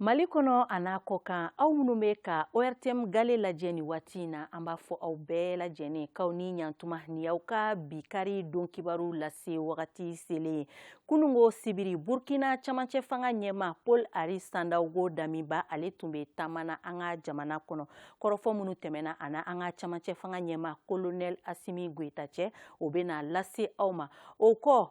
Mali kɔnɔ an'a kɔkan aw minnu bɛ ka ORTM gale lajɛ nin waati in na, an b'a fɔ aw bɛɛ lajɛlen k'aw ni ɲantuma nin y'aw ka bi kari don kibaru lase wagati selen ye. Kununko sibiri Burkina camancɛ fanga ɲɛmaa Paul Henri Sandaogo Damiba ale tun bɛ taama na an ka jamana kɔnɔ. Kɔrɔfɔ minnu tɛmɛna a n'an ka camancɛ fanga ɲɛmaa Colonel Assimi Goita cɛ, o bɛna lase aw ma. O kɔ,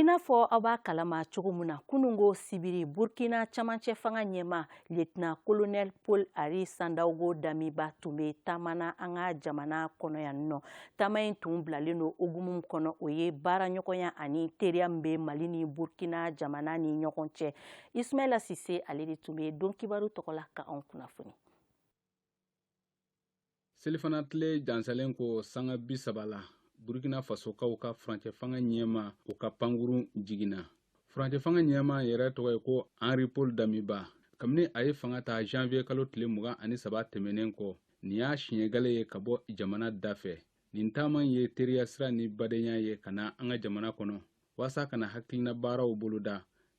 I n'a fɔ aw b'a kalama cogo min na kununko sibiri burukina camancɛ fanga ɲɛma lieutenant colonel paul henri sandaogo damiba tun bɛ taama na an ka jamana kɔnɔ yan nɔ taama in tun bilalen don hukumu min kɔnɔ o ye baaraɲɔgɔnya ani teriya min bɛ mali ni burukina jamana ni ɲɔgɔn cɛ ismaila sise ale de tun bɛ don kibaru tɔgɔ la ka anw kunnafoni selifana tile jansalen kɔ sanga bi saba la burkina fasokaw ka furancɛfanga ɲɛma o ka pankurun jiginna furancɛfanga ɲɛma yɛrɛ tɔgɔ ye ko henri paul damiba kabini a ye fanga ta janvier kalo tile mugan ani saba tɛmɛnen kɔ nin y'a siɲɛ gale ye ka bɔ jamana da fɛ nin taama ye teriya sira ni badenya ye ka na an ka jamana kɔnɔ waasa ka na hakilina baaraw boloda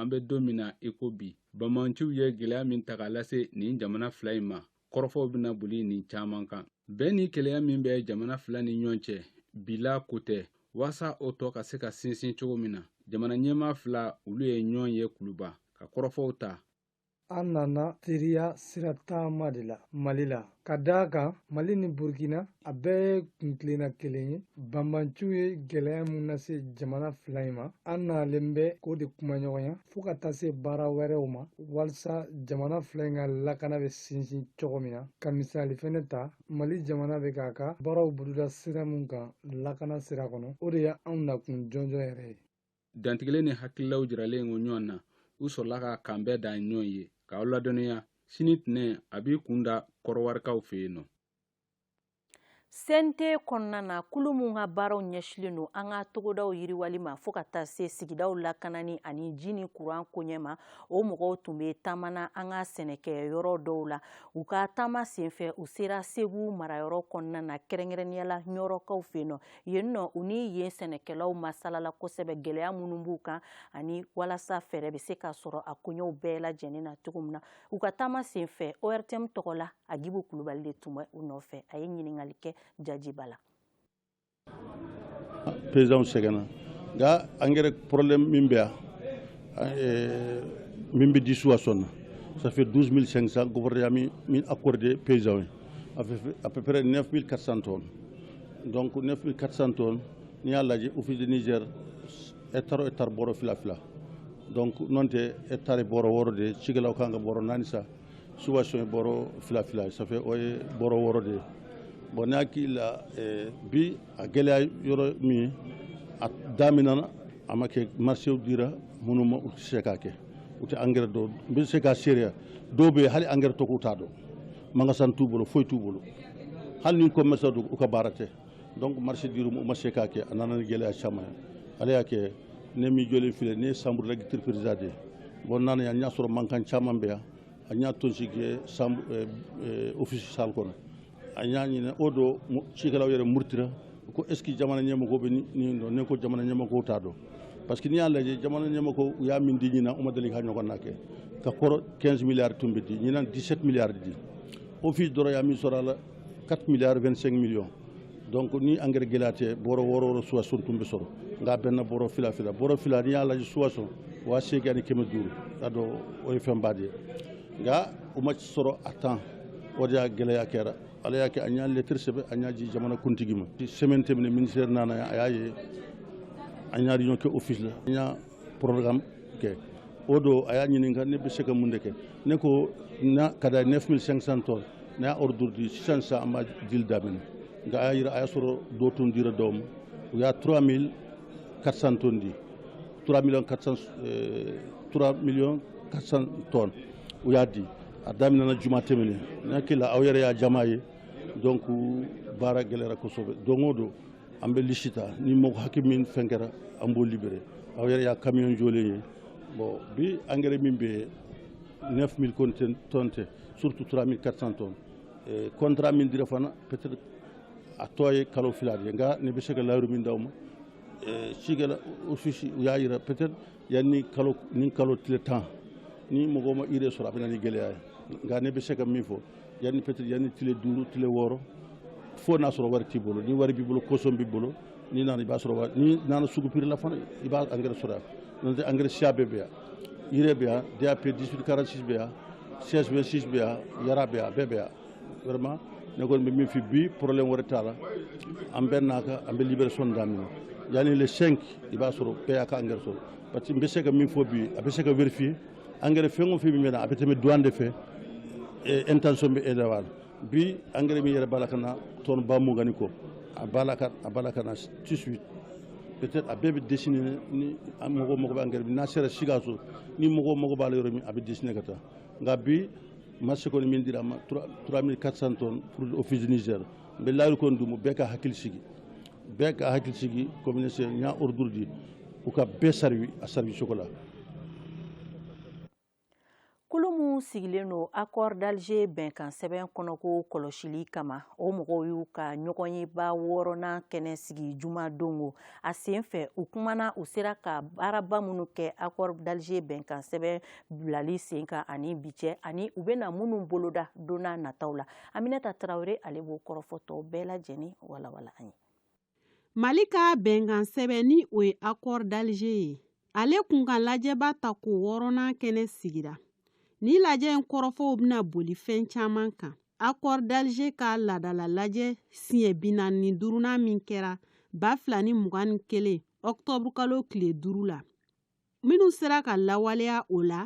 an bɛ don min na i ko bi banbanciw ye gɛlɛya min ta k'a lase nin jamana fila in ma kɔrɔfɔw bɛna boli nin caman kan bɛn ni kelenya min bɛ jamana fila ni ɲɔgɔn cɛ bila ko tɛ waasa o tɔ ka se ka sinsin cogo min na jamana ɲɛmaa fila olu ye ɲɔgɔn ye kuluba ka kɔrɔfɔw ta an nana teriya sira taama de la mali la ka d'a kan mali ni burkina a bɛɛ ye kuntilenna kelen ye banbanciw ye gwɛlɛya min lase jamana fila in ma an nalen bɛ k'o de kumaɲɔgɔnya fo ka taa se baara wɛrɛw ma walisa jamana fila in ka lakana bɛ sinsin cogo min na ka misali fɛnɛ ta mali jamana bɛ k'a ka baaraw boloda sira min kan lakana sira kɔnɔ o de ye anw nakun jɔnjɔn yɛrɛ ye dantigɛlen ni hakililaw jiralen kɔ ɲɔgɔn na u sɔrɔla ka k'an bɛn da ɲɔgɔn ye k'aw ladɔnniya sini tɛnɛn a b'i kun da kɔrɔwarikaw fɛ yen nɔ cnt kɔnɔna na kulu min ka baaraw ɲɛsinlen don an ka togodaw yiriwali ma fo ka taa se sigidaw lakanani ani ji ni kuran koɲɛ ma o mɔgɔw tun bɛ taama na an ka sɛnɛkɛ yɔrɔ dɔw la u ka taama senfɛ u sera segu marayɔrɔ kɔnɔna na kɛrɛnkɛrɛnnenya la ɲɔnɔkaw fɛ nɔ yen nɔ u ni yen sɛnɛkɛlaw masalala kosɛbɛ gɛlɛya minnu b'u kan ani walasa fɛɛrɛ bɛ se ka sɔrɔ a koɲɛw bɛɛ lajɛlen na cogo min na u ka taama sen fɛ ortm tɔgɔ la agibu kulubali de tun bɛ u nɔfɛ a ye ɲininkali kɛ jaji ba la paysanw sɛgɛnna nka engrais problème min bɛ yan min bɛ disu a sɔn na ça fait 12 500 gouvernement ye min accordé paysans ye à peu près 9 400 tonnes donc 9400 tonnes n'i y'a lajɛ office de niger hectare o hectare bɔrɔ fila fila donc n'o tɛ hectare bɔrɔ wɔɔrɔ de ye cikɛlaw kan ka bɔrɔ naani san subvention ye bɔrɔ fila fila ça fait o ye bɔrɔ wɔɔrɔ de ye bon ne hakili la eh, bi a gɛlɛya yɔrɔ min ye a daminɛna a ma kɛ marché dira minnu ma u tɛ se k'a kɛ u tɛ engrais dɔn n bɛ se k'a seereya dɔw bɛ yen hali engrais tɔgɔ u t'a dɔn magasin t'u bolo foyi t'u bolo hali ni commerçant don u ka baara tɛ donc marché dir'u ma u ma se k'a kɛ a nana ni gɛlɛya caman ye ala y'a kɛ ne min jɔlen filɛ ne ye chambre d'agriculture président de ye bon n nana yan n y'a sɔrɔ mankan caman bɛ yan an y'a tɔnsigi kɛ chambre office salle kɔnɔ an y'a ɲini o don cikɛlaw yɛrɛ murutira ko est-ce que jamana ɲɛmɔgɔw bɛ nin dɔn ne ko jamana ɲɛmɔgɔw t'a dɔn parce que n'i y'a lajɛ jamana ɲɛmɔgɔ u y'a min di ɲinan u ma deli k'a ɲɔgɔnna kɛ ka kɔrɔ 15 milliards tun bɛ di ɲinan 17 milliards di office dɔrɔn y'a min sɔrɔ a la 4 milliards 25 millions donc ni engrais gɛlɛya tɛ bɔrɔ wɔɔrɔ wɔɔrɔ subvention tun bɛ sɔrɔ nka a bɛnna bɔrɔ fila fila bɔrɔ fila n'i y'a lajɛ subvention waa seegin ani kɛmɛ duuru k'a dɔn o ye fɛnba de ye nka u ma sɔrɔ à temps o de y'a gɛlɛya kɛra ala y'a kɛ an y'a lettre sɛbɛn an y'a di jamana kuntigi ma semaine tɛmɛnen ministère nana a y'a ye an y'a réunion kɛ office la an y'a programme kɛ o don a y'a ɲininka ne bɛ se ka mun de kɛ ne ko na ka da 9500 tonnes ne y'a ordre di sisan sisan an b'a dili daminɛ nka a y'a yira a y'a sɔrɔ dɔ tun dira dɔw ma u y'a 3400 tonnes di 3 millions 400 3 millions 400 tonnes u y'a di a daminɛna juma tɛmɛnen n hakili la aw yɛrɛ y'a jama ye donc baara gɛlɛyara kosɛbɛ don o don an bɛ liste ta ni mɔgɔ hakɛ min fɛn kɛra an b'o libérer aw yɛrɛ y'a camion jɔlen ye bon bi engrais min bɛ yen 9000 conten- tonnes tɛ surtout 3400 tonnes Eh, contrat min dira fana peut-être a tɔ ye kalo fila de ye nka ne bɛ se ka layiru min d'aw ma Eh, cikɛla office u y'a yira peut-être yanni kalo nin kalo tile tan ni mɔgɔ ma urée sɔrɔ a bɛ na ni gɛlɛya ye nka ne bɛ se ka min fɔ yanni peut-être yanni tile duuru tile wɔɔrɔ fo n'a sɔrɔ wari t'i bolo ni wari b'i bolo caution b'i bolo n'i nana i b'a sɔrɔ wari n'i nana sugu prix la fana i b'a engrais sɔrɔ yan n'o tɛ engrais siya bɛɛ bɛ yan urée bɛ yan DAP 1846 bɛ yan 1626 bɛ yan Yara bɛ yan a bɛɛ bɛ yan vraiment ne kɔni bɛ min fɔ bi problème wɛrɛ t'a la an bɛnna a kan an bɛ libération daminɛ yanni le 5 i b'a sɔrɔ bɛɛ y'a ka engrais sɔrɔ parce que n bɛ se ka min fɔ bi a bɛ se ka vérifier engrais fɛn o fɛn min bɛ na a bɛ tɛmɛ douane de fɛ intention bɛ e la wa bi engrais min yɛrɛ b'a la ka na tonne ba mugan ni kɔ a b'a la ka a b'a la ka na tout de suite peut-être a bɛɛ bɛ destiner ni mɔgɔw mago bɛ engrais min na n'a sera Sikaso ni mɔgɔw mago b'a la yɔrɔ min a bɛ destiner ka taa. nka bi marché kɔni min dira an ma 3400 tonnes pour office du Niger n bɛ layiru kɔni d'u ma bɛɛ ka hakili sigi bɛɛ ka hakili sigi comme n y'a ordre di u ka bɛɛ servi a servi cogo la kulu minnu sigilen don accord d'Alger bɛnkan sɛbɛn kɔnɔko kɔlɔsili kama o mɔgɔw y'u ka ɲɔgɔnyeba wɔɔrɔnan kɛnɛ sigi juma don ko a sen fɛ u kumana u sera ka baaraba minnu kɛ accord d'Alger bɛnkan sɛbɛn bilali sen kan ani bi cɛ ani u bɛna minnu boloda don nataw la aminata tarawele ale b'o kɔrɔfɔ tɔ bɛɛ lajɛlen walawala an ye mali ka bɛnkan sɛbɛn ni o ye accord d'alger ye ale kunkan lajɛba tako wɔɔrɔnan kɛnɛ sigira ni lajɛ in kɔrɔfɔw bɛna boli fɛn caman kan accord d'alger ka ladala lajɛ siɲɛ binaani ni duurunan min kɛra ba fila ni mugan ni kelen ɔktɔburukalo tile duuru la minnu sera ka lawaleya o la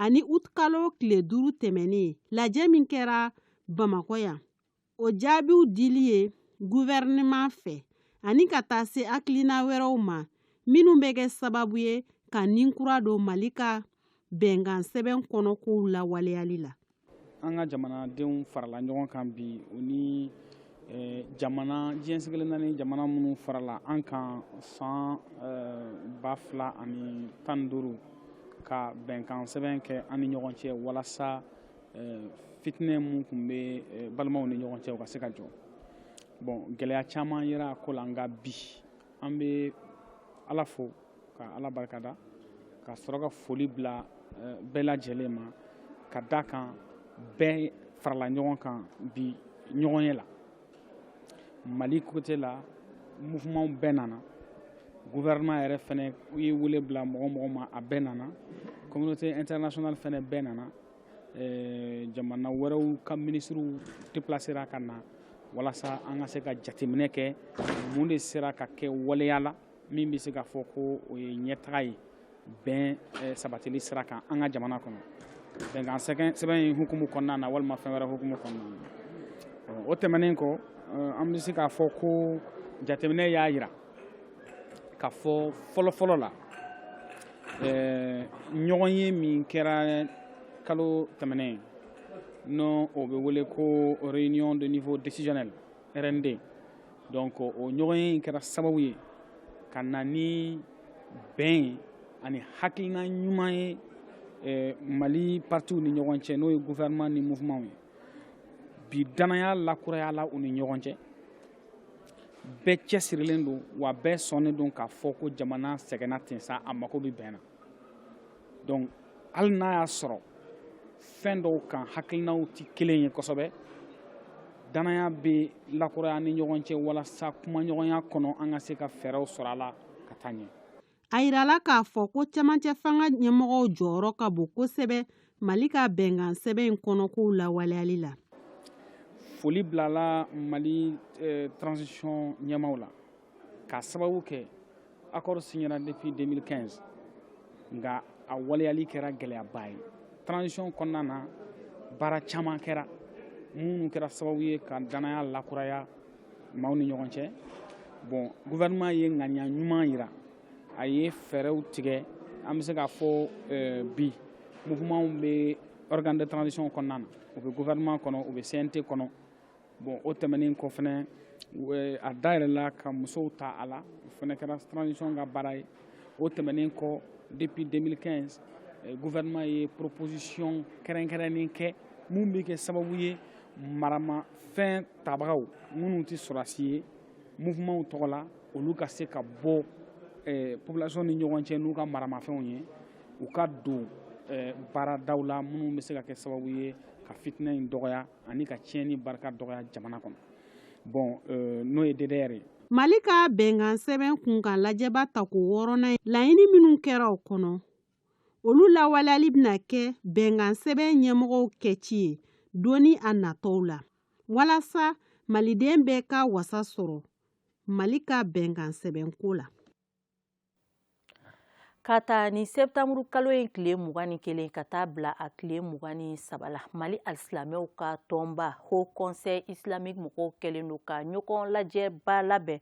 ani utikalo tile duuru tɛmɛnen lajɛ min kɛra bamakɔ yan o jaabiw dili ye guvɛrɛnɛman fɛ ani ka taa se hakilina wɛrɛw ma minnu bɛ kɛ sababu ye ka ni kura don mali ka bɛnkan sɛbɛn kɔnɔ kow lawaleyali la an ka jamanadenw farala ɲɔgɔn kan bi u ni eh, jamana diɲɛ seleke naani jamana minnu farala an kan san eh, ba fila ani tan ni duuru ka bɛnkan sɛbɛn kɛ an ni ɲɔgɔn cɛ walasa eh, fitinɛ min tun bɛ balimaw ni ɲɔgɔn cɛ o ka se ka jɔ bon gɛlɛya caman yera a ko la nka bi an bɛ ala fo ka ala barika da ka sɔrɔ ka foli bila eh, bɛɛ lajɛlen ma ka da kan bɛɛ farala ɲɔgɔn kan bi ɲɔgɔnye la mali côté la mouvementw bɛɛ nana gouvernement yɛrɛ fɛnɛ ye wele bila mɔgɔ o mɔgɔ ma a bɛɛ nana communauté internationale fɛnɛ bɛɛ nana eh, jamana wɛrɛw ka minisiriw déplacera ka na walasa an ka se ka jateminɛ kɛ mun de sera ka kɛ waleya la min bɛ se ka fɔ ko o ye ɲɛtaga ye bɛn eh, sabatili sira kan an ka jamana kɔnɔ bɛnkan sɛbɛn in hukumu kɔnɔna na walima fɛn wɛrɛ hukumu kɔnɔna na o tɛmɛnen kɔ eh, an bɛ se k'a fɔ ko jateminɛ y'a jira k'a fɔ fɔlɔfɔlɔ la eh, ɲɔgɔnye min kɛra kalo tɛmɛnen in n'o bɛ wele ko réunion de niveau décisionnel rnd donc o ɲɔgɔnye in kɛra sababu ye ka na ni bɛn ani hakilina ɲuman ye eh, mali partiw ni ɲɔgɔn cɛ n'o ye gouvernement ni mouvementw ye bi danaya lakurayala u ni ɲɔgɔn cɛ bɛɛ cɛsirilen don wa bɛɛ sɔnnen don k'a fɔ ko jamana sɛgɛnna ten sa a mako bɛ bɛn na donc hali n'a y'a sɔrɔ fɛn dɔw kan hakilinaw tɛ kelen ye kosɛbɛ danaya bɛ lakuraya ni ɲɔgɔn cɛ walasa kumaɲɔgɔnya kɔnɔ an ka se ka fɛɛrɛw sɔrɔ a la ka taa ɲɛ a yirala k'a fɔ ko cɛmancɛ fanga ɲɛmɔgɔw jɔyɔrɔ ka bon kosɛbɛ Mali ka bɛnkan sɛbɛn in kɔnɔkow lawaleyali la foli bilala mali eh, transition ɲɛmaaw la k'a sababu kɛ accord signera depuis 2015 nka a waleyali kɛra gɛlɛyaba ye transition kɔnɔna na baara caman kɛra minnu kɛra sababu ye ka danaya lakuraya maaw ni ɲɔgɔn cɛ bon gouvernement ye ŋaniya ɲuman yira a ye fɛɛrɛw tigɛ an bɛ se k'a fɔ eh, bi mouvements bɛ organe de transition kɔnɔna na u bɛ gouvernement kɔnɔ u bɛ CNT kɔnɔ bon o tɛmɛnen kɔ fana eh, a dayɛlɛla ka musow ta a la o fana kɛra transition ka baara ye o tɛmɛnen kɔ depuis 2015 eh, gouvernement ye proposition kɛrɛnkɛrɛnnen kɛ min bɛ kɛ sababu ye maramafɛn tabagaw minnu tɛ sɔrɔdasi ye mouvements tɔgɔ la olu ka se ka bɔ eh, population ni ɲɔgɔn cɛ n'u ka maramafɛnw ye u ka don eh, baaradaw la minnu bɛ se ka kɛ sababu ye ka fitinɛ in dɔgɔya ani ka tiɲɛni barika dɔgɔya jamana kɔnɔ bon eh, n'o ye DDR ye Mali ka bɛnkan sɛbɛn kunkan lajɛba tako wɔɔrɔnan in laɲini minnu kɛra o kɔnɔ olu lawaleyali bɛna kɛ bɛnkan sɛbɛn ɲɛmɔgɔw kɛci ye don natɔw la walasa maliden bɛɛ ka wasa sɔrɔ mali ka bɛnkan sɛbɛnko la ka ta ni sɛtanburu kalo in tile mugan ni kelen ka taa bila a tile mugan ni saba la mali alisilamɛw ka tɔnba haut conseil islamique mɔgɔw kɛlen don ka ɲɔgɔn lajɛba labɛn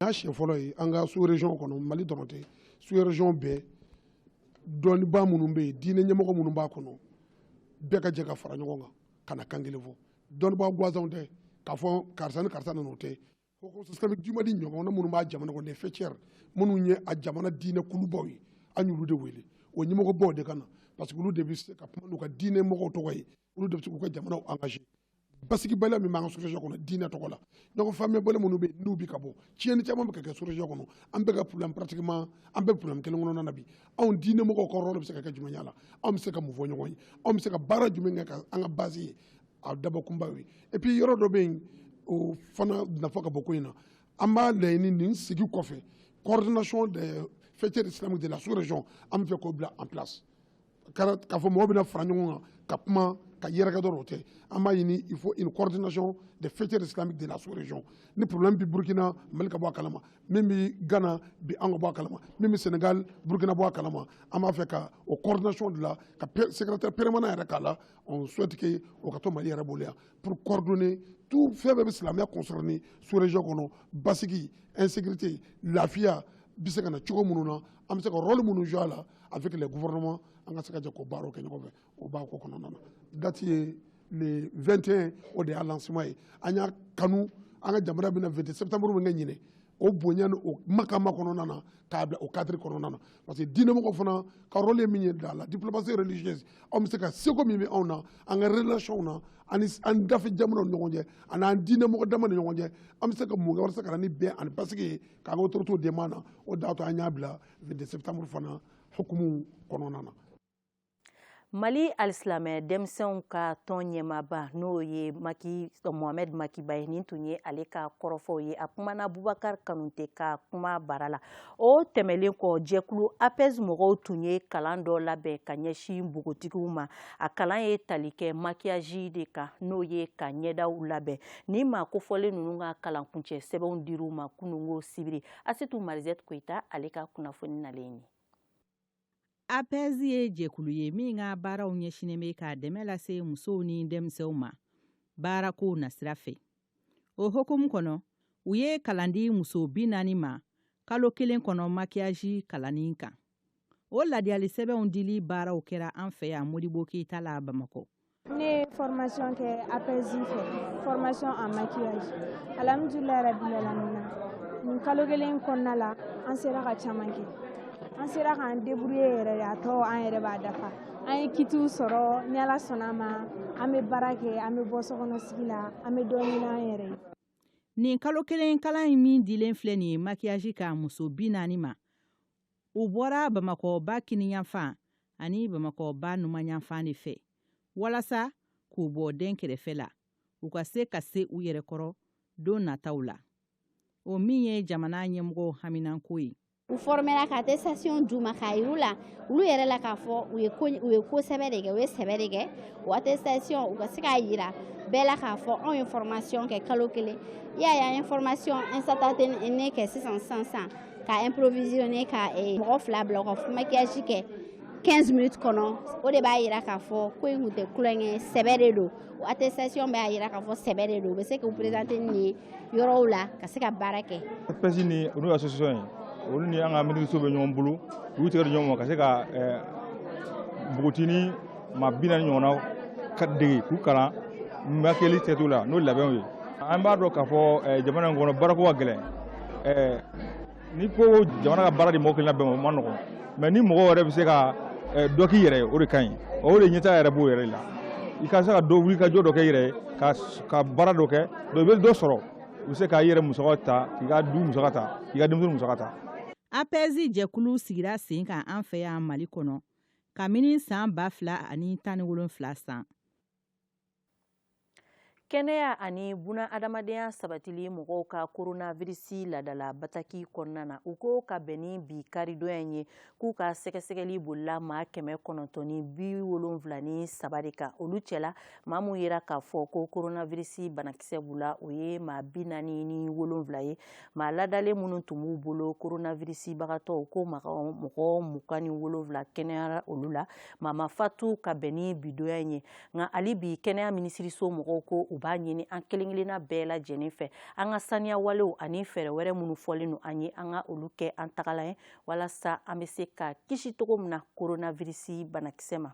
n'a siɲɛ fɔlɔ ye an ka sous région kɔnɔ mali dɔrɔn tɛ sous région bɛɛ dɔnnibaa minnu bɛ yen diinɛ ɲɛmɔgɔ minnu b'a kɔnɔ bɛɛ ka jɛ ka fara ɲɔgɔn kan ka na kan kelen fɔ dɔnnibaa gwansanw tɛ k'a fɔ karisa ni karisa nana o tɛ haut conseil islamique du mali ɲɔgɔnna minnu b'a jamana kɔnɔ les faîtières minnu ye a jamana diinɛ kulubaw ye an y'olu de wele o ɲɛmɔgɔbaw de ka na parce que olu de bɛ se ka kuma n'u ka diinɛ mɔgɔw tɔgɔ ye olu de bɛ se k'u ka jamanaw engagé basigibaliya min b'an ka sous-région kɔnɔ diinɛ tɔgɔ la ɲɔgɔn faamuyabali minnu bɛ yen n'u bɛ ka bɔ tiɲɛni caman bɛ ka kɛ sous-région kɔnɔ an bɛɛ ka problème pratiquement an bɛɛ problème kelen kɔnɔna na bi anw diinɛ mɔgɔw ka rôle bɛ se ka kɛ jumɛn ye a la anw bɛ se ka mun fɔ ɲɔgɔn ye anw bɛ se ka baara jumɛn kɛ ka an ka base ye a dabɔkunba ye et puis yɔrɔ dɔ bɛ yen o fana nafa ka bon ko in na an b'a laɲini nin sigi kɔfɛ coordination des faîtières islamiques de la sous-région an b'a fɛ k'o bila en place k'a fɔ mɔgɔ bɛna fara ɲɔgɔn kan ka kuma ka yɛrɛkɛ dɔrɔn o tɛ an b'a ɲini il faut une coordination des faîtières islamiques de la sous-région ni problème bɛ Burkina Mali ka bɔ a kalama min bɛ Ghana bi an ka bɔ a kalama min bɛ Sénégal Burkina bɔ a kalama an b'a fɛ ka o coordination de la ka secrétaire permanent yɛrɛ k'a la on souhaite que o ka to Mali yɛrɛ bolo yan pour coordonner tout fɛn bɛɛ bɛ silamɛya concerner sous-région kɔnɔ basigi insécurité lafiya bɛ se ka na cogo minnu na an bɛ se ka rôle minnu jouer a la avec les gouvernements an ka se ka jɛ k'o baaraw kɛ ɲɔgɔn fɛ o b'a ko kɔnɔna na date ye le 21 o de y'a lancement ye an y'a kanu an ka jamana bɛna 22 septembre min kɛ ɲinɛ o bonya ni o makama kɔnɔna na k'a bila o cadre kɔnɔna na parce que diinɛmɔgɔ fana ka rôle ye min ye dans la diplomatie religieuse anw bɛ se ka seko min bɛ anw na an ka relation na ani an dafe jamanaw ni ɲɔgɔn cɛ ani an diinɛmɔgɔ dama ni ɲɔgɔn cɛ an bɛ se ka mun kɛ walasa ka na ni bɛn ani basigi ye k'an ka autorités dɛmɛ an na o de y'a to an y'a bila 22 septembre fana hukumu kɔnɔna na mali alisilamɛ denmisɛnw ka tɔn ɲɛmaaba n'o ye mohamɛd maki ba ye nin tun ye ale ka kɔrɔfɔw ye a kumana bubakar kanute ka kuma bara la o tɛmɛlen kɔ jɛkulu apɛzi mɔgɔw tun ye kalan dɔ labɛn ka ɲɛsin npogotigiw ma a kalan ye tali kɛ makiyaji de kan n'o ye ka ɲɛdaw labɛn ni maa kofɔlen ninnu ka kalankuncɛ sɛbɛnw dir'u ma kununko sibiri asetu mariz koyita ale ka kunnafoni nalen ye apɛzi ye jɛkulu ye min ka baaraw ɲɛsinnen bɛ ka dɛmɛ lase musow ni denmisɛnw ma baarako nasira fɛ o hukumu kɔnɔ u ye kalan di muso bi naani ma kalo kelen kɔnɔ makiyaji kalanni kan o ladiyali sɛbɛnw dili baaraw kɛra an fɛ yan modibo keyita la bamakɔ ne ye formation kɛ apɛzi fɛ formation en maquillage alhamdulilayi rabilalamina nin kalo kelen kɔnɔna la an sera ka caman kɛ an sera k'an débrouiller yɛrɛ de a tɔ an yɛrɛ b'a dafa an ye kitiw sɔrɔ ni ala sɔnna a ma an bɛ baara kɛ an bɛ bɔ sokɔnɔ sigi la an bɛ dɔ ɲini an yɛrɛ ye nin kalo kelen kalan in min dilen filɛ nin ye makiyaji kan muso bi naani ma u bɔra bamakɔ ba kininyanfan ani bamakɔ ba numanyanfan de fɛ walasa k'u bɔ dɛnkɛrɛfɛ la u ka se ka se u yɛrɛ kɔrɔ don nataw la o min ye jamana ɲɛmɔgɔw haminanko ye u fɔrɔmɛra ka attestation d'u ma k'a yir'u la olu yɛrɛ la k'a fɔ u ye ko u ye ko sɛbɛ de kɛ u ye sɛbɛ de kɛ o attestation u ka se k'a yira bɛɛ la k'a fɔ anw ye formation kɛ kalo kelen i y'a ye an ye formation instantanée kɛ sisan sisan Ka improvisionner ka ee mɔgɔ 2 bila u ka maquillage kɛ 15 minutes kɔnɔ o de b'a jira k'a fɔ ko in tun tɛ tulonkɛ ye sɛbɛ de don o attestation b'a jira k'a fɔ sɛbɛ de don u bɛ se k'u présenter nin ye yɔrɔw la ka se ka baara kɛ. APS ni o y'u association ye olu ni an ka minisiriso bɛ ɲɔgɔn bolo u y'u tɛgɛ di ɲɔgɔn ma ka se ka npogotinin maa bi naani ɲɔgɔnna ka dege k'u kalan makɛli tɛtu la n'o labɛnw ye an b'a dɔn k'a fɔ eh, jamana in kɔnɔ baarako ka gɛlɛn eh, ni ko jamana ka baara di mɔgɔ kelen bɛɛ ma o man nɔgɔn mais ni mɔgɔ yɛrɛ bɛ se ka eh, dɔ k'i yɛrɛ ye o de ka ɲi o de ɲɛtaa yɛrɛ b'o yɛrɛ la i ka se ka dɔ wuli ka jɔ dɔ kɛ i yɛrɛ ye ka baara dɔ kɛ donc i bɛ dɔ sɔrɔ i bɛ se k'i yɛrɛ musaka ta k'i ka du musaka ta k'i ka denmisɛnnin musaka ta APS jɛkulu sigira sen kan an fɛ yan mali kɔnɔ kabini san ba fila ani tan ni wolonfila san kɛnɛya ani buna adamadenya sabatili mɔgɔw ka koronavirisi laadala bataki kɔnɔna na u ko ka bɛn ni bi karidonya ye k'u ka sɛgɛsɛgɛli bolila maa kɛmɛ kɔnɔntɔn ni bi wolonfila ni saba de kan olu cɛla maa min yera k'a fɔ ko koronavirisi banakisɛ b'u la o ye maa bi naani ni wolonfila ye maa ladalen minnu tun b'u bolo koronavirisibagatɔw ko mɔgɔ mugan ni wolonwula kɛnɛyara olu la maa ma fatu ka bɛn ni bidonya ye nka hali bi kɛnɛya minisiriso mɔgɔw ko u b'a ɲini an kelen-kelenna bɛɛ lajɛlen fɛ an ka saniya walew ani fɛɛrɛ wɛrɛ minnu fɔlen don an ye an ka olu kɛ an tagala ye walasa an bɛ se ka kisi cogo min na koronavirisi banakisɛ ma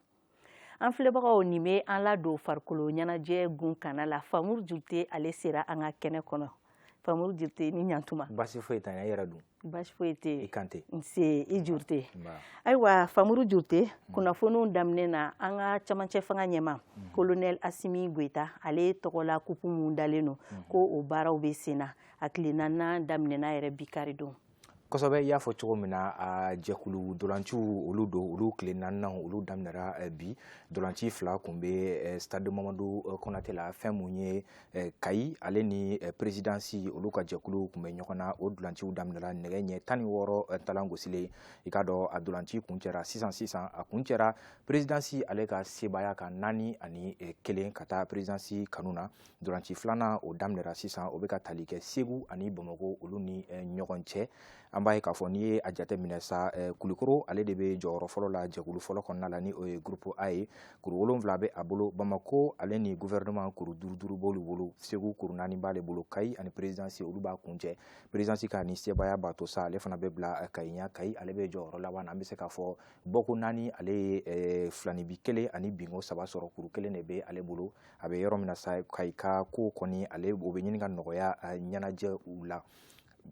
an filɛbagaw nin bɛ an ladon farikolo ɲɛnajɛ gun kana la famuru jurute ale sera an ka kɛnɛ kɔnɔ famuru jurute ni ɲantuma baasi foyi tɛ i yɛrɛ dun baasi foyi tɛ i kante nse i jurute ayiwa famuru jurute kunnafoniw daminɛ na an ka camancɛ fanga ɲɛmaa kolonɛli asimi goyita ale tɔgɔ la kupu min dalen don ko o baaraw bɛ sen na a tile naaninan daminɛna yɛrɛ bi karidon kosɛbɛ i y'a fɔ cogo min na a jɛkulu dolanciw olu don olu tile naaninan olu daminɛra eh, bi dolanci fila kun bɛ eh, stade mamadu eh, konate la fɛn mun ye kayi ale ni perezidansi olu ka jɛkulu kun bɛ ɲɔgɔn na o dolanciw daminɛra nɛgɛ ɲɛ tan ni wɔɔrɔ talan gosilen i k'a dɔn a dolanci kuncɛra sisan sisan a kuncɛra perezidansi ale ka sebaaya kan naani ani kelen ka taa perezidansi kanu na Dolanci filanan o daminɛra sisan o bɛ ka tali kɛ Segu ani Bamakɔ olu ni eh, ɲɔgɔn cɛ an b'a ye k'a fɔ n'i ye a jate minɛ sa eh, Kulikoro ale de bɛ jɔyɔrɔ fɔlɔ la jɛkulu fɔlɔ kɔnɔna la ni o ye groupe A ye kuru wolonwula bɛ a bolo Bamakɔ ale ni gouvernement kuru duuru duuru b'olu bolo Segu kuru naani b'ale bolo Kayi ani présidence olu b'a kuncɛ présidence ka nin sebaaya b'a to sa ale fana bɛ bila eh, Kayi ɲɛ Kayi ale bɛ jɔyɔrɔ laban na an bɛ se k'a fɔ bɔko naani ale ye filanibi kelen ani binko saba sɔrɔ kuru kelen de bɛ ale bolo a bɛ yɔrɔ min na sa kayi ka ko kɔni ale o bɛ ɲini ka nɔgɔya ɲɛnajɛ u la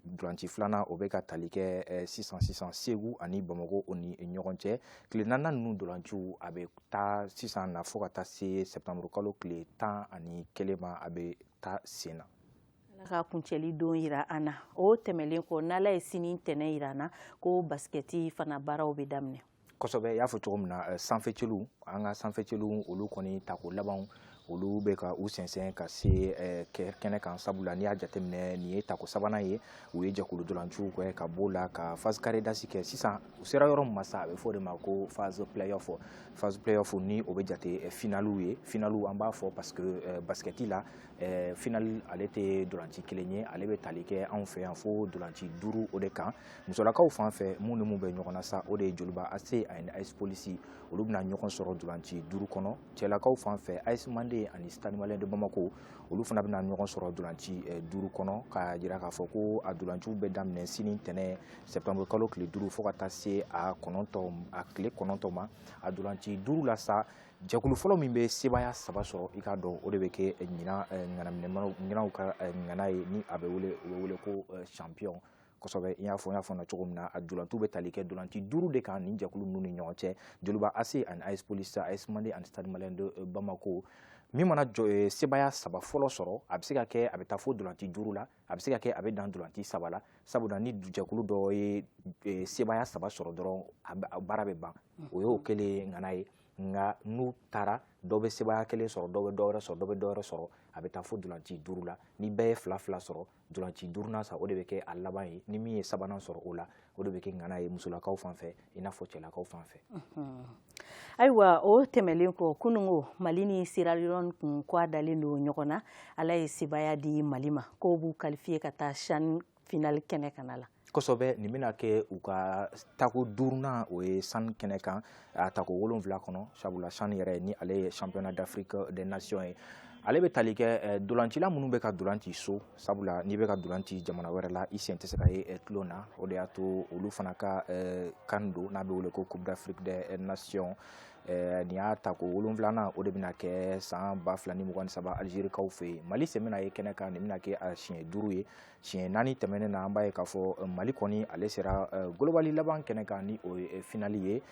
dolanci filanan o bɛ ka tali kɛ sisan sisan segu ani bamakɔ o ni ɲɔgɔn cɛ tile naaninan ninnu dolanciw a bɛ taa sisan na fo ka taa se septembre kalo tile tan ani kelen ma a bɛ taa sen na ala ka kuncɛli don yira an na o tɛmɛlen kɔ n'ala ye sini ntɛnɛn yira an na ko basikɛti fana baaraw bɛ daminɛ kosɛbɛ i y'a fɔ cogo min na eh, sanfɛcelu an ka sanfɛcelu olu kɔni tako labanw olu bɛ ka u sɛnsɛn ka se eh, kɛnɛ kan sabula n'i y'a jateminɛ nin ye tako sabanan ye u ye jɛkulu dolanciw kɛ ka b'o la ka phase carré d'as kɛ sisan u sera yɔrɔ min ma sa a bɛ fɔ o de ma ko phase playoff phase playoff ni o bɛ jate eh, finaliw ye finaliw an b'a fɔ parce que eh, basikɛti la final ale tɛ dolanci kelen ye ale bɛ tali kɛ anw fɛ yan fo dolanci duuru o de kan musolakaw fan fɛ mun ni mun bɛ ɲɔgɔn na sa o de ye joliba ac ani as police olu bɛna ɲɔgɔn sɔrɔ dolanci duuru kɔnɔ cɛlakaw fan fɛ as mande ani stade malien de bamako olu fana bɛna ɲɔgɔn sɔrɔ dolanci eh, duuru kɔnɔ k'a jira k'a fɔ ko a dolanciw bɛ daminɛ sini ntɛnɛn septembre kalo tile duuru fo ka taa se a kɔnɔntɔn a tile kɔnɔntɔn ma a dolanci duuru la sa jɛkulu fɔlɔ min bɛ sebaaya saba sɔrɔ i k'a dɔn o de bɛ kɛ ɲinan eh, ŋanaminɛmanaw ɲinanw ka eh, ŋana ye ni a bɛ wele u bɛ wele ko champion kosɛbɛ i y'a fɔ n y'a fɔ na cogo min na a dolanciw bɛ tali kɛ dolanci duuru de kan nin jɛkulu ninnu ni ɲɔgɔn cɛ joliba ac ani as police as mande ani stade malien de euh, bamako min mana jɔ euh, sebaya saba fɔlɔ sɔrɔ a bɛ se ka kɛ a bɛ taa fo dolanci duuru la a bɛ se ka kɛ a bɛ dan dolanci saba la sabula ni jɛkulu dɔ ye euh, sebaya saba sɔrɔ dɔrɔn a baara bɛ ban o y'o kɛlen ŋana ye nka n'u taara dɔ bɛ sebaya kelen sɔrɔ dɔ bɛ dɔ wɛrɛ sɔrɔ dɔ bɛ dɔ wɛrɛ sɔrɔ a bɛ taa fo dolanci duuru la ni bɛɛ ye fila fila sɔrɔ dolanci duurunan sa o de bɛ kɛ a laban ye ni min ye sabanan sɔrɔ o la o de bɛ kɛ ŋana ye musolakaw fan fɛ i n'a fɔ cɛlakaw fan fɛ ayiwa o tɛmɛlen kɔ kunungo mali ni sierra leone kun kɔ a dalen don ɲɔgɔn na ala ye sebaya di mali ma k'o b'u kalifiye ka taa chan finali kɛnɛ kan a la kosɛbɛ nin bɛna kɛ u ka tako duurunan o ye chan kɛnɛ kan a tako wolonwula kɔnɔ sabula chan yɛrɛ ni ale ye championnat d'afrique des nations ye ale bɛ tali kɛ eh, dolancila minnu bɛ ka dolanci so sabula n'i bɛ ka dolanci jamana wɛrɛ la i sen tɛ se ka ye eh, tulon na o de y'a to olu fana ka eh, can don n'a bɛ wele ko coupe d'afrique des nations Eh, nin y'a tako wolonwulanan o de bɛna kɛ san ba fila ni mugan ni saba alizerikaw fɛ yen mali sen bɛna ye kɛnɛ kan nin bɛna kɛ a siɲɛ duuru ye siɲɛ naani tɛmɛnen na an b'a ye k'a fɔ eh, mali kɔni ale sera eh, golobali laban kɛnɛ kan ni o ye eh, finali ye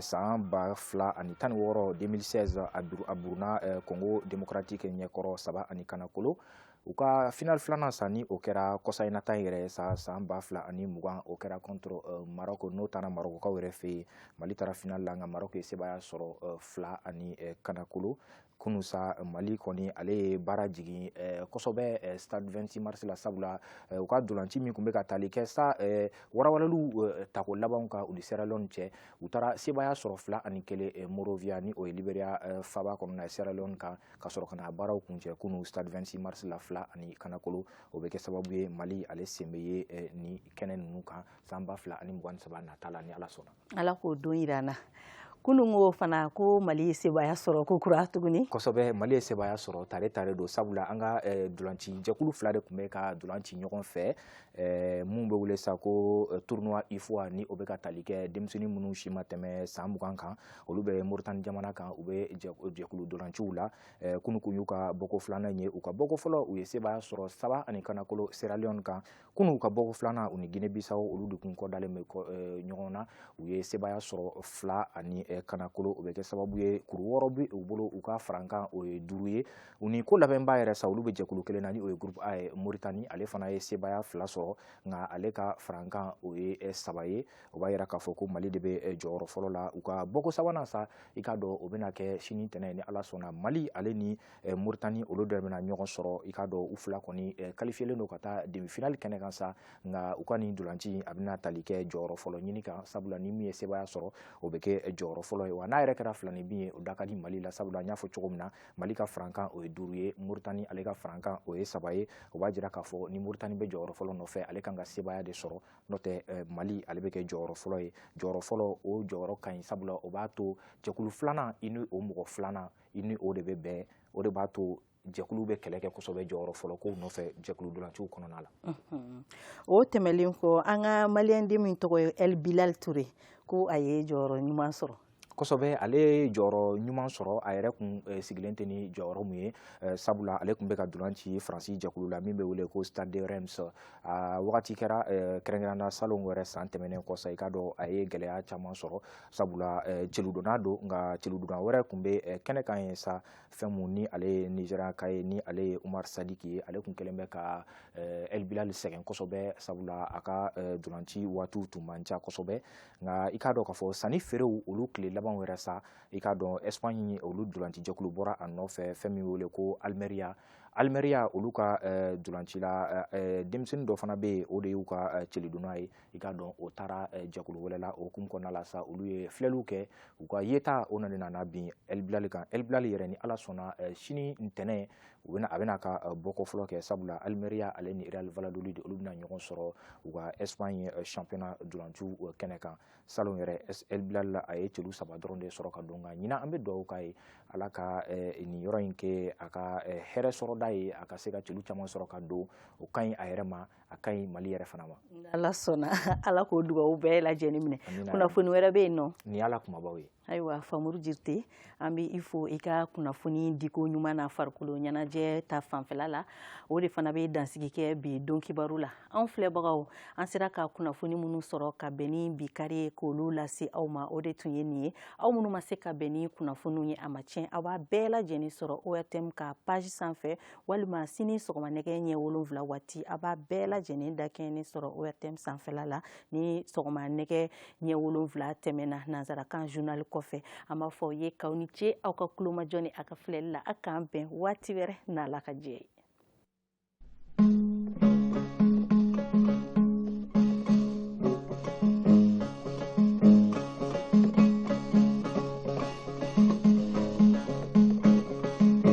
san ba fila ani tan ni wɔɔrɔ 2016 a buruna congo démocratique ɲɛkɔrɔ saba ani kanakolo u ka final filanan sa ni o kɛra kɔsa in na ta yɛrɛ sa san ba fila ani mugan o kɛra contre maroc n'o taara marokokaw yɛrɛ fɛ yen mali taara final la nka maroc ye sebaya sɔrɔ fila ani kanakolo kunu sa mali kɔni ale ye baara jigin eh, kosɛbɛ eh, stade 26 mars la sabula eh, u ka dolanci min tun bɛ ka tali kɛ sa walawalaliw tako labanw kan u ni sierra leone cɛ u taara sebaya sɔrɔ fila ani kelen monrovia ni o ye liberia faba kɔnɔna ye sierra leone kan ka sɔrɔ ka na baaraw kuncɛ kunu stade 26 mars la fila ani kanakolo o bɛ kɛ sababu ye mali ale sen bɛ ye ni kɛnɛ ninnu kan san ba fila ani mugan ni saba nata la ni ala sɔnna ala k'o don jira an na kunun ko fana ko mali ye sebaaya sɔrɔ ko kura tuguni kosɛbɛ mali ye sebaaya sɔrɔ tare tare don sabula an ka eh, dolanci jɛkulu fila de tun bɛ ka dolan ci ɲɔgɔn fɛ eh, mun bɛ wele sa ko eh, tournoi ufoa ni o bɛ ka tali kɛ denmisɛnnin minnu si ma tɛmɛ san mugan kan olu bɛ moritani jamana kan u bɛ jɛkulu dolanciw la eh, kunu kun y'u ka bɔko filanan ye u ka bɔko fɔlɔ u ye sebaaya sɔrɔ saba ani kanakolo seralion kan kunun u ka bɔko filanan u ni gine bisawo olu de kun kɔdalen bɛ eh, ɲɔgɔn na u ye sebaya sɔrɔ fila ani eh, kanakolo o bɛ kɛ sababu ye kuru wɔɔrɔ bɛ u bolo u ka farankan o ye duuru ye u ni ko labɛnbaa yɛrɛ sa olu bɛ jɛkulu kelen na ni o ye groupe a ye moritani ale fana ye sebaya fila sɔrɔ nka ale ka farankan o ye eh, saba ye o b'a yira k'a fɔ ko mali de bɛ jɔyɔrɔ fɔlɔ la u ka bɔko sabanan sa i k'a dɔn o bɛna kɛ sini tɛnɛn ni ala sɔnna mali ale ni eh, Mauritanie olu de bɛna ɲɔgɔn sɔrɔ i k'a dɔn u fila kɔni eh, kalifiyelen don ka taa demi-finale kɛnɛ kan sa nka u ka nin dolanci a bɛna tali kɛ jɔyɔrɔ fɔlɔ ɲini kan sabula ni min ye sebaaya sɔrɔ o bɛ kɛ jɔyɔrɔ fɔlɔ ye wa n'a yɛrɛ kɛra filaninbin ye o da ka di Mali la sabula n y'a fɔ cogo min na Mali ka farankan o ye duuru ye Mauritanie ale ka farankan o ye saba ye o b'a jira k'a fɔ ni Mauritanie bɛ jɔyɔrɔ fɔlɔ nɔfɛ ale kan ka sebaaya de sɔrɔ n'o tɛ eh, Mali ale bɛ kɛ jɔyɔrɔ fɔlɔ ye jɔyɔrɔ fɔlɔ o jɔyɔrɔ ka ɲi sabula o b'a to jɛkulu filanan i ni o mɔgɔ filanan i ni o de bɛ bɛn o de b'a to jɛkulu bɛ kɛlɛ kɛ kosɛbɛ jɔyɔrɔ fɔlɔ ko nɔfɛ jɛkulu dolanciw kɔnɔna la o tɛmɛlen kɔ an ka maliyɛnden min tɔgɔ ye ɛl bilal ture ko a ye jɔyɔrɔ ɲuman sɔrɔ kosɛbɛ ale ye jɔyɔrɔ ɲuman sɔrɔ a yɛrɛ kun eh, sigilen tɛ ni jɔyɔrɔ min ye eh, sabula ale tun bɛ ka dulan ci faransi jɛkulu la min bɛ wele ko stade de reims a wagati kɛra eh, kɛrɛnkɛrɛnna salon wɛrɛ san tɛmɛnen kɔ sa i k'a dɔn a ye gɛlɛya caman sɔrɔ sabula eh, celudonna don nka celudonna wɛrɛ tun bɛ eh, kɛnɛ kan ye sa fɛn mun ni ale ye nizeriyaka ye ni ale ye umar sadiki ye ale tun kɛlen bɛ ka eh, el bilal sɛgɛn kosɛbɛ sabula a ka dolanci waatiw tun man ca kosɛbɛ nka i k'a dɔn k'a fɔ sannifeerew olu tile laban wɛrɛ sa i k'a dɔn espagne olu dolanci jɛkulu bɔra a nɔfɛ fɛn min wele ko almeria almeria olu ka dolancila denmisɛnnin dɔ fana bɛ yen o de y'u ka celidonna ye i k'a dɔn o taara eh, jɛkulu wɛrɛ la o hukumu kɔnɔna la sa olu ye filɛliw kɛ u ka yeta o nana nana bin el bilal kan el bilal yɛrɛ ni ala sɔnna eh, sini ntɛnɛn u bɛna a bɛna ka eh, bɔko fɔlɔ kɛ sabula almeria ale ni real valladolid olu bɛna ɲɔgɔn sɔrɔ u ka espagne championnat dolanju kɛnɛ kan salon yɛrɛ el bilal la a ye celu saba dɔrɔn de sɔrɔ ka don nka ɲinan an bɛ dugawu k'a ye ala ka nin yɔrɔ in kɛ a ka hɛrɛ sɔrɔda ye a ka se ka celu caman sɔrɔ ka don o ka ɲi a yɛrɛ ma a ka ɲi mali yɛrɛ fana ma ala sɔnna ala k'o dugawu bɛɛ lajɛ lajɛlen minɛ kunnafoni wɛrɛ bɛ yen nɔ ni ala kumabaw ye ayiwa famuru jirite an bɛ i fo i ka kunnafoni diko ɲuman na farikolo ɲɛnajɛ ta fanfɛla la o de fana bɛ dansigi kɛ bi don kibaru la an filɛbagaw an sera ka kunnafoni minnu sɔrɔ ka bɛn ni bi kari ye k'olu lase aw ma o de tun ye nin ye aw minnu ma se ka bɛn ni kunnafoniw ye a ma tiɲɛ aw b'a bɛɛ lajɛlen sɔrɔ ORTM ka page sanfɛ walima sini sɔgɔma nɛgɛ ɲɛ wolonwula waati a b'a bɛɛ lajɛlen dakɛɲɛnen sɔrɔ ORTM sanfɛla la ni sɔgɔma nɛgɛ ɲɛ wolonwula tɛmɛna nansarakan journal kɔfɛ an b'a fɔ aw ye k'aw ni ce aw ka kulomajɔ ni a ka filɛli la a k'an bɛn waati wɛrɛ n'ala ka jɛ ye